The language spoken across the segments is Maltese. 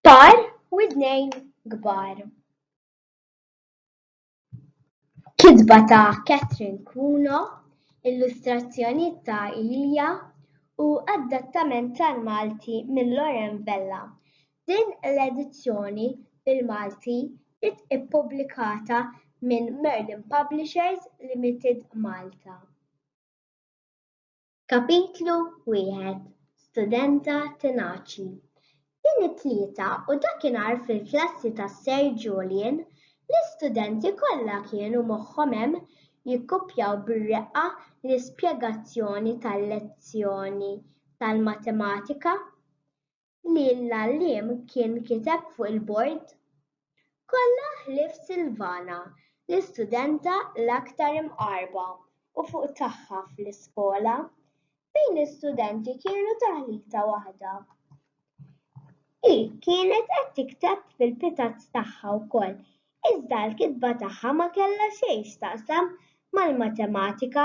Par u tnejn kbar. Kitba ta' Catherine Cuno, illustrazzjonijiet ta' Ilija u adattament tal-Malti minn Loren Vella. Din l-edizzjoni bil-Malti ġiet ippubblikata minn Merlin Publishers Limited Malta. Kapitlu Wieħed, Studenta Tenaċi Din it-Tlieta u dakinhar fil-klassi ta' Sir Julian, l-istudenti kollha kienu moħħhom hemm jikkupjaw bir-reqqa l-ispjegazzjoni tal-lezzjoni tal-matematika. li l-għalliem kien kiteb fuq il-bord? Kollha ħlief Silvana, l-istudenta l-aktar imqarrba u fuq tagħha fl-iskola, fejn l-istudenti kienu taħlita waħda. Hi kienet qed tikteb fil-pitazz tagħha wkoll Iżda l-kitba tagħha ma kellha xejn x'taqsam mal-matematika.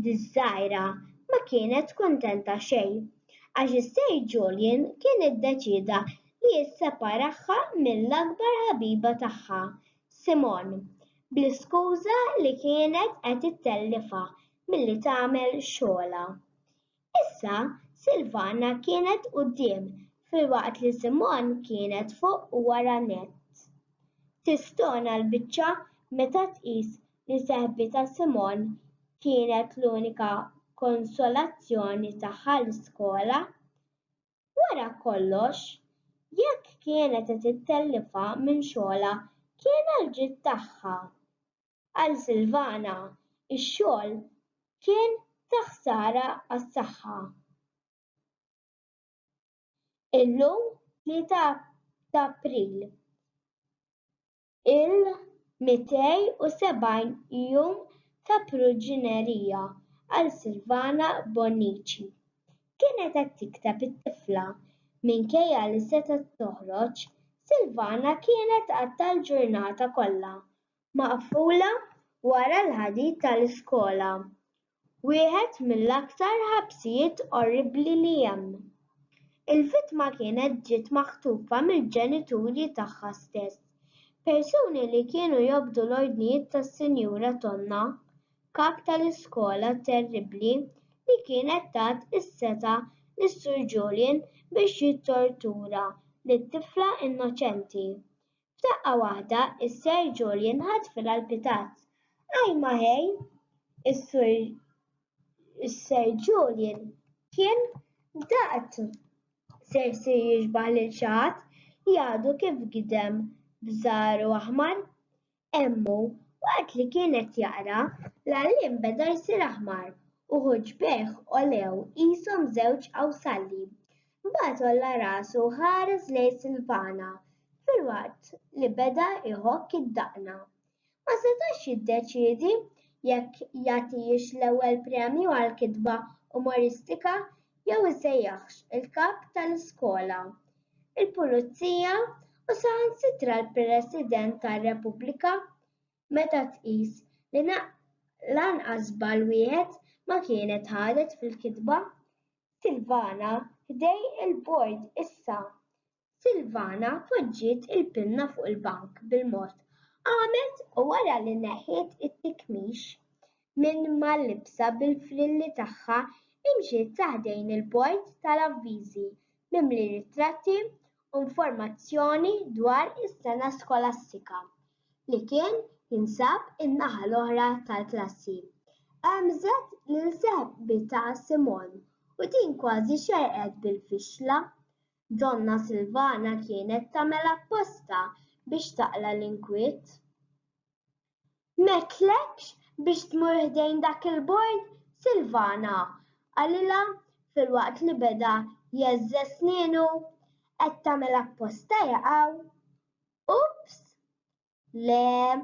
Diż-żgħira ma kienet kuntenta xejn, għax is-Sir Julian kien iddeċieda li jisseparahha mill-akbar ħabiba tagħha, Simone, bl-iskuża li kienet qed ittellifha milli tagħmel xogħolha. Issa Silvana kienet quddiem filwaqt li Simon kienet fuq u wara nett. Tistona l-biċċa meta tqis li seħbitha Simon kienet l-unika konsolazzjoni tagħha l-iskola. Wara kollox, jekk kienet qed ittellifha minn xogħolha kien għall-ġid tagħha. Għal Silvana, ix-xogħol kien ta' ħsara għas-saħħa. Illum, tlieta ta' April, il-270 jum ta' priġunerija għal Silvana Bonnici. Kienet qed tikteb it-tifla. Minkejja li setgħet toħroġ, Silvana kienet għadha l-ġurnata kollha maqfula wara l-ħadid tal-iskola, wieħed mill-aktar ħabsijiet orribbli li hemm. Il-vittma kienet ġiet maħtufa mill-ġenituri tagħha stess, persuni li kienu jobdu l-ordnijiet tas-Sinjura Tonna, kap tal-iskola terribbli li kienet tat is-setgħa lis-Sur Julian biex jittortura lit-tifla innoċenti F'daqqa waħda s-Sir Julian ħadd fil-għall-pitazz. Ajj ma ħej! Is-Sir Julian kien daqt se jsir jixbah lil xi ħadd li għadu kif gidem b'żahru aħmar. Hemmu, waqt li kien qed jaqra, l-għalliem beda jsir aħmar u ħuġbejh għolew qishom żewġ qawsalli. Mbagħad għolla rasu u ħares lejn Silvana filwaqt li beda jħokk id-daqna. Ma setax jiddeċiedi jekk jagħtihiex l-ewwel premju għall-kitba umoristika jew isejjaħx il-kap tal-iskola, il-pulizija u saħansitra l-President tar-Repubblika meta tqis li lanqas żball wieħed ma kienet ħadet fil-kitba. Silvana ħdej il-bord issa. Silvana poġġiet il-pinna fuq il-bank bil-mod. Qamet u wara li neħħiet it-tikmix minn mal-libsa bil-frilli tagħha imxiet sa ħdejn il-bord tal-avviżi mimli ritratti u informazzjoni dwar is-sena skolastika. li kien jinsab in-naħa l-oħra tal-klassi. Għemżet lil seħbitha Simon u din kważi xerrqet bil-fixla. Donna Silvana kienet tagħmel apposta biex taqla' l-inkwiet. M'għedtlekx biex tmur ħdejn dak il-bord, Silvana? qalilha filwaqt li beda jgħeżżeż snienu. Qed tagħmel apposta jaqgħu. Ups! Le,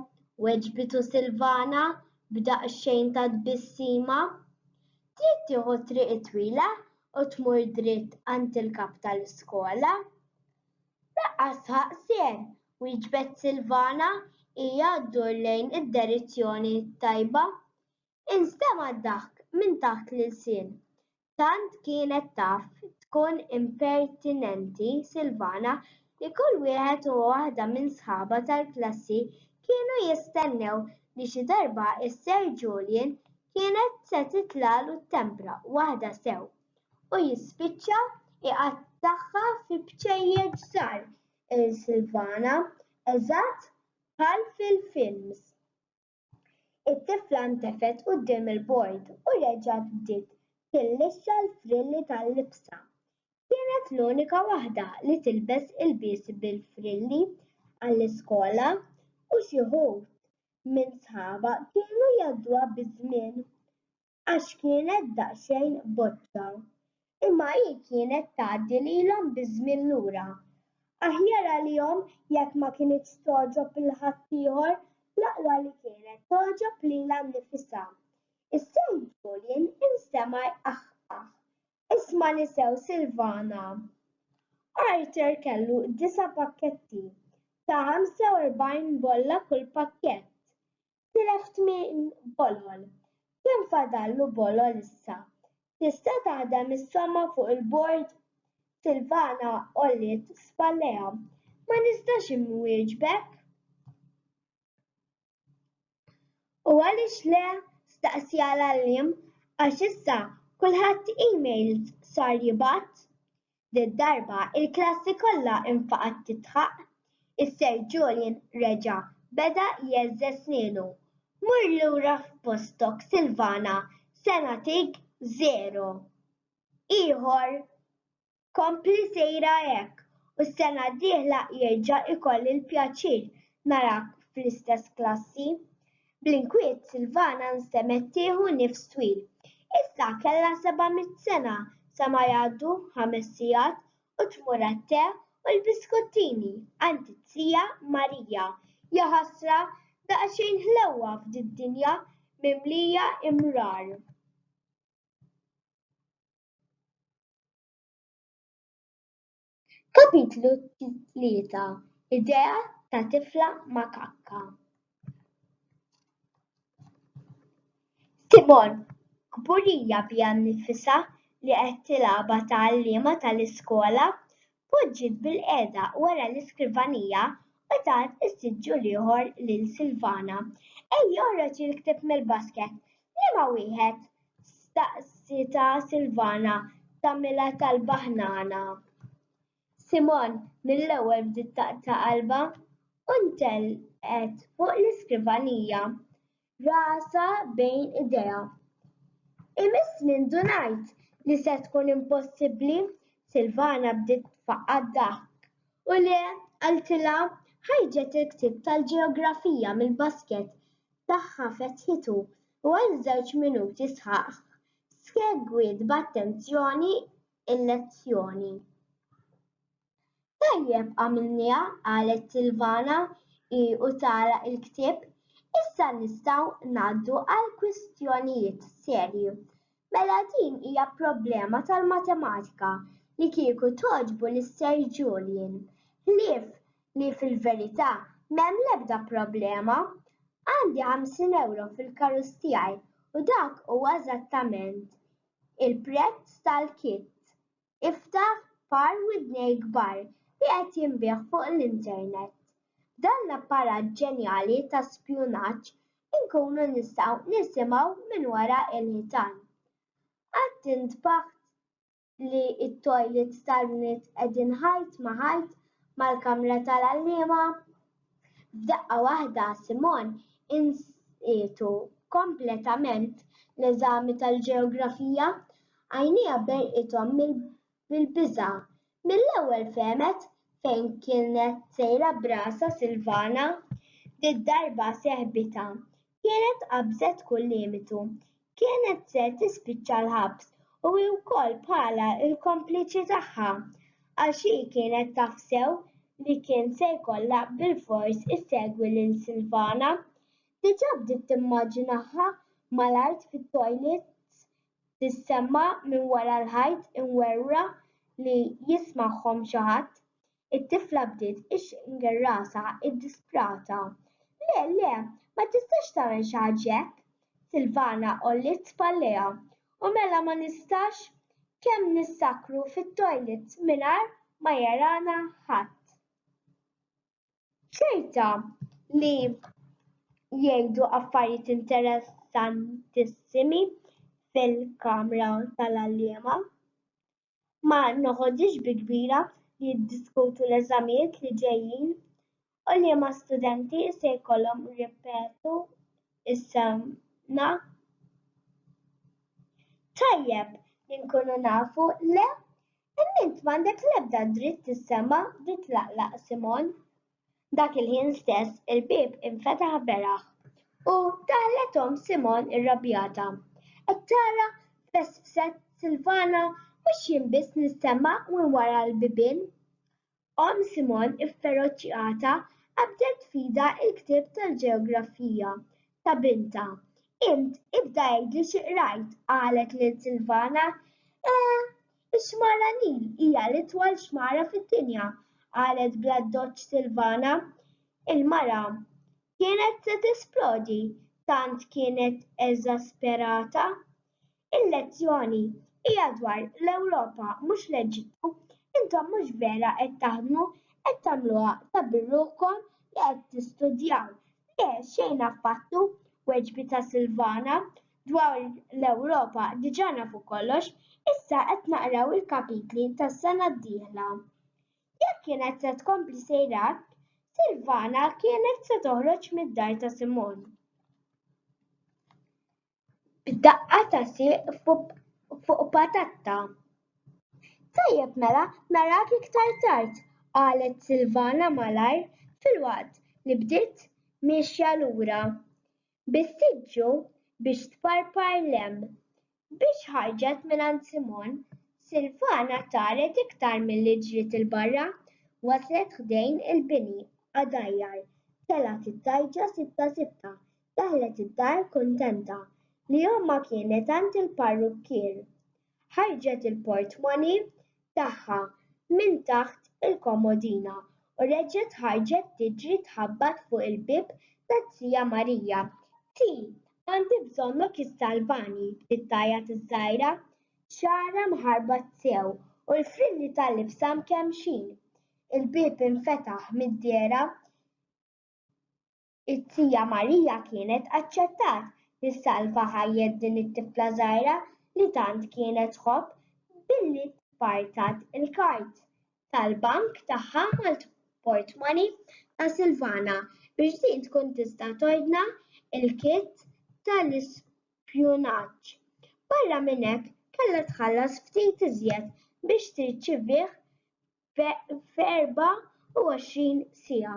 weġbitu Silvana b'daqsxejn ta' tbissima. Trid tieħu t-triq it-twila u tmur dritt għand il-kap tal-iskola. Laqqas ħaqsien, wieġbet Silvana hija ddur lejn id-derizzjoni t-tajba. Instema' d-daħk minn taħt l-ilsien. Tant kienet taf tkun impertinenti Silvana li kull wieħed u waħda minn sħabha tal-klassi kienu jistennew li xi darba s-Sir Julian kienet se titlagħlu t-tempra waħda sew u jispiċċa iqattagħha fi bċejjeċ żgħar lil Silvana eżatt bħal fil-films. It-tifla ntefgħet quddiem il-bord u reġgħet bdiet tillixxa l-frilli tal-libsha. Kienet l-unika waħda li tilbes ilbies bil-frilli għall-iskola u xi wħud minn sħabha kienu jgħadduha biż-żmien. għax kienet daqsxejn boċċa. Imma hi kienet tgħaddi lilhom biż-żmien lura. Aħjar għalihom jekk ma kinitx togħġob lil ħaddieħor, l-aqwa li kienet togħġob lilha nnifisha. Is-sew Julian instema' jqaħqaħ. Ismagħni sew Silvana. Arthur kellu disa' pakketti ta' 45 bolla kull pakkett. tilef tmien bolol. Kemm fadallu bolol issa? Tista' taħdem is-somma fuq il-bord? Silvana għolliet spallejha. Ma nistax inwieġbek. U għaliex le? staqsiha l-għalliem. Għax issa kulħadd emails sar jibgħat. Did-darba il-klassi kollha infaqgħet tidħaq. Is-Sir Julian reġa' beda jheżżeż snienu. Mur lura f'postok Silvana se nagħtik żero. Ieħor! Kompli sejra hekk u s-sena d-dieħla jerġa' jkolli l-pjaċir narak fl-istess klassi. Bl-inkwiet Silvana nstemgħet tieħu nifs twil. Issa kellha seba' mitt sena sa ma jgħaddu ħames sigħat u tmur għat-te u l-biskottini għand it-tija Marija. Jaħasra, daqsxejn ħlewwa f'did-dinja mimlija imrar. Kapitlu Tlieta, Idea ta' tifla makakka. Simon, kburija biha nnifisha li qed tilgħabha tgħalliema tal-iskola, poġġiet bilqiegħda wara l-iskrivanija u tat is-siġġu l-ieħor lil Silvana. Ejja oħroġ il-ktieb mill-basket. Liema wieħed? Staqsitha Silvana tagħmilha talba ħnana. Simon mill-ewwel bdiet taqta' qalbha u ntelqet fuq l-iskrivanija, rasha bejn idejha. Imiss li ndunajt li se tkun impossibbli, Silvana bdiet tfaqqa' d-daħk. U le, qaltilha, ħarġet il-ktieb tal-ġeografija mill-basket tagħha fetħitu u għal żewġ minuti sħaħ segwiet b'attenzjoni l-lezzjoni. Tajjeb għamilniha, qalet Silvana hi u tagħlaq il-ktieb, issa nistgħu ngħaddu għall-kwistjonijiet serji. Mela din hija problema tal-matematika li kieku togħġbu lil Sir Julian, ħlief li fil-verità m'hemm l-ebda problema. Għandi ħamsin ewro fil-karus tiegħi u dak huwa eżattament il-prezz tal-kit Iftaħ par widnejk kbar li qed jinbiegħ fuq l-internet. B'dan l-apparat ġenjali ta' spjunaġġ inkunu nistgħu nisimgħu minn wara l-ħitan. Qatt intbaħt li t-toilets tal-bniet qegħdin ħajt ma' ħajt mal-kamra tal-għalliema? F'daqqa waħda Simon insietu kompletament l-eżami tal-ġeografija. Għajnejha berqithom bil-biża'. Mill-ewwel fehmet fejn kienet sejra b'rasha Silvana. Did-darba sehbitha kienet qabżet kull limitu. Kienet se tispiċċa l-ħabs u hi wkoll bħalha l-kompliċi tagħha, għax hi kienet taf sew li kien se jkollha bilfors issegwi lil Silvana. Diġà bdiet timmaġinaha mal-art fit-toilets tissemma' minn wara l-ħajt imwerwra li jismagħhom xi ħadd. It-tifla bdiet ixxingier rasha ddisprata. Le, le, ma tistax tagħmel xi ħaġa hekk! Silvana għolliet spallejha. U mela ma nistax? Kemm nissakru fit-toilet mingħajr ma jarana ħadd? Ċerta li jgħidu affarijiet interessantissimi fil-kamra tal-għalliema. ma noħodhiex bi kbira li jiddiskutu l-eżamijiet li ġejjin u liema studenti se jkollhom jirrepetu s-sena. Tajjeb li nkunu nafu, le? Imma int m'għandek l-ebda dritt tissema' titlaqlaq Simon. Dak il-ħin stess il-bieb infetaħ beraħ u daħlet omm Simgħon irrabjata. Qed tara, fessset Silvana, mhux jien biss nissema' minn wara l-bibien. Omm Simgħon ifferoċjata qabdet f'idha l-ktieb tal-ġeografija ta' bintha. Int ibda għidli xi qrajt, qalet lil Silvana. Eh, Ix-Xmara Nil hija l-itwal xmara fid-dinja, qalet bl-addoċċ Silvana. Il-mara kienet se tisplodi, tant kienet eżasperata. Il-lezzjoni hija dwar l-Ewropa mhux l-Eġittu. Intom mhux vera qed taħdmu, qed tagħmluha ta' birruħkom li qed tistudjaw. Le, xejn affattu, weġbitha Silvana, Dwar l-Ewropa diġà nafu kollox, issa qed naqraw il-kapitli tas-sena d-dieħla. Jekk kienet se tkompli sejra hekk, Silvana kienet se toħroġ mid-dar ta' Simon. B'daqqa ta' sieq fuq patatta. Tajjeb mela, narak iktar tard, qalet Silvana malajr filwaqt li bdiet miexja lura. bis-siġġu biex tparpar l-hemm. Biex ħarġet mingħand Simon, Silvana taret iktar milli ġriet 'il barra, waslet ħdejn il-bini qadajjar, telgħet it-tgħajġa sitta sitta, daħlet id-dar kuntenta li ommha kienet għand il-parrukkier. Ħarġet il-portmani tagħha minn taħt il-komodina u reġgħet ħarġet tiġri tħabbat fuq il-bieb ta' tija Marija. Ti, għandi bżonnok issalvani, bdiet tgħajjat iż-żgħira, xagħarha mħarbat sew u l-frilli ta' libsha mkemmxin. Il-bieb infetaħ mid-dehra. It-Tija Marija kienet aċċettat li ssalva ħajjet din it-tifla żgħira li tant kienet tħobb billi tpartat il-kard tal-bank tagħha mal-portmani ta' Silvana biex din tkun tista' tordna l-kit tal-ispjunaġġ. Barra minn hekk, kellha tħallas ftit iżjed biex tirċivih f'erbgħa u għoxrin siegħa.